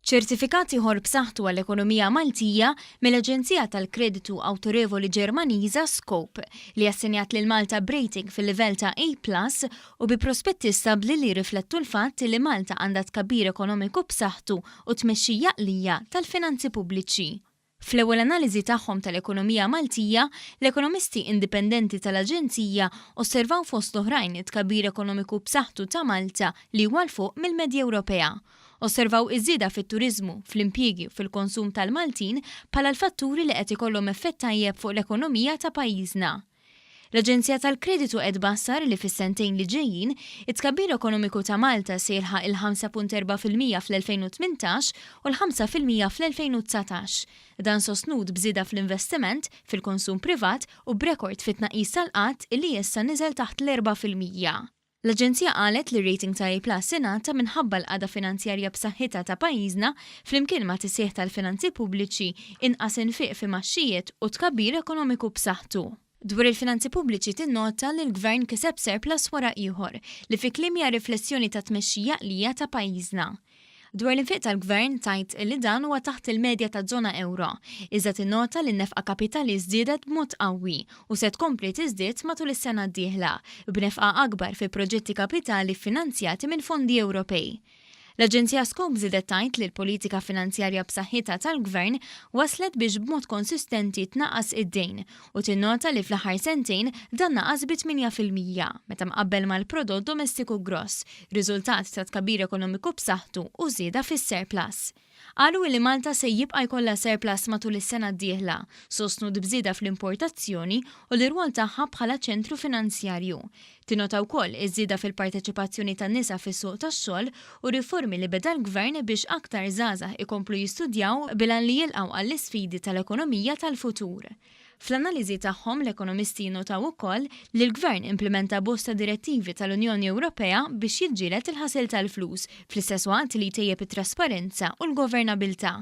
Ċertifikat ieħor b'saħħtu għall-ekonomija Maltija mill-Aġenzija tal-Kreditu Awtorevoli Ġermaniża Scope li assenjat lil Malta b'rating fil-livell ta' A+ u bi prospetti stabbli li riflettu l-fatt li Malta għandha tkabbir ekonomiku b'saħħtu u tmexxija qlija tal-finanzi pubbliċi. Fl-ewwel analiżi tagħhom tal-ekonomija Maltija, l-ekonomisti indipendenti tal-Aġenzija osservaw fost l-oħrajn it-tkabbir ekonomiku b'saħħtu ta' Malta li huwa 'l fuq mill-medja Ewropea. Osservaw iż-żieda fit-turiżmu, fl-impjiegi u fil-konsum tal-Maltin bħala l-fatturi li qed ikollhom effett tajjeb fuq l-ekonomija ta' pajjiżna. L-Aġenzija tal-Kreditu qed tbassar li fis-sentejn li ġejjin, it-tkabbir ekonomiku ta' Malta se jilħaq il-5.4 fil-mija fl-2018 u l-5 fil-mija fl-2019. Dan sostnut b'żieda fl-investiment, fil-konsum privat u b'rekord fit-tnaqqis tal-qgħad illi issa niżel taħt l-erbgħa fil-mija. L-Aġenzija qalet li r-rating ta' A+ ingħata minħabba l-qagħda finanzjarja b'saħħitha ta' pajjiżna flimkien ma' tisħiħ tal-finanzi pubbliċi, inqas infiq f'imgħaxxijiet u tkabbir ekonomiku b'saħħtu. Dwar il-finanzi pubbliċi tinnota li l-Gvern kiseb surplus wara ieħor, li fi kliemja riflessjoni tat-tmexxija għaqlija ta' pajjiżna. Dwar l-infiq tal-Gvern tgħid li dan huwa taħt il-medja taż-żona ewro, iżda tinnota li n-nefqa kapitali żdiedet b'mod qawwi u se tkompli tiżdied matul is-sena d-dieħla, b'nefqa akbar fi proġetti kapitali ffinanzjati minn fondi Ewropej. L-aġenzija Scope żiedet tgħid li l-politika finanzjarja b'saħħitha tal-Gvern wasslet biex b'mod konsistenti tnaqqas id-dejn u tinnota li fl-aħħar sentejn dan naqas bi 8 fil-mija meta mqabbel mal-prodott domestiku gross, riżultat ta' tkabbir ekonomiku b'saħħtu u żieda fis-surplus. Qalu li Malta se jibqa' jkollha surplus matul is-sena d-dieħla, sostnut b'żieda fl-importazzjoni u l-irwol tagħha bħala ċentru finanzjarju, Tinnota wkoll iż-żieda fil-parteċipazzjoni tan-nisa fis-suq tax-xogħol u r-riformi li beda l-Gvern biex aktar żgħażagħ ikomplu jistudjaw bil-għan li jilqgħu għall-isfidi tal-ekonomija tal-futur. Fl-analiżi tagħhom, l-ekonomisti jinnotaw ukoll li l-Gvern implimenta bosta direttivi tal-Unjoni Ewropea biex jiġġieled il-ħasil tal-flus, fl-istess waqt li jtejjeb it-trasparenza u l-governabilità.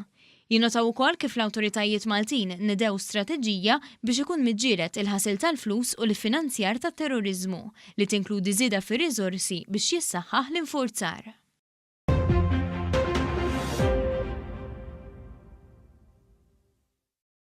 Jinnotaw ukoll kif l-awtoritajiet Maltin nedew strateġija biex ikun miġġieled il-ħasil tal-flus u l-iffinanzjar tat-terroriżmu, li tinkludi żieda fir-riżorsi biex jissaħħaħ l-infurzar.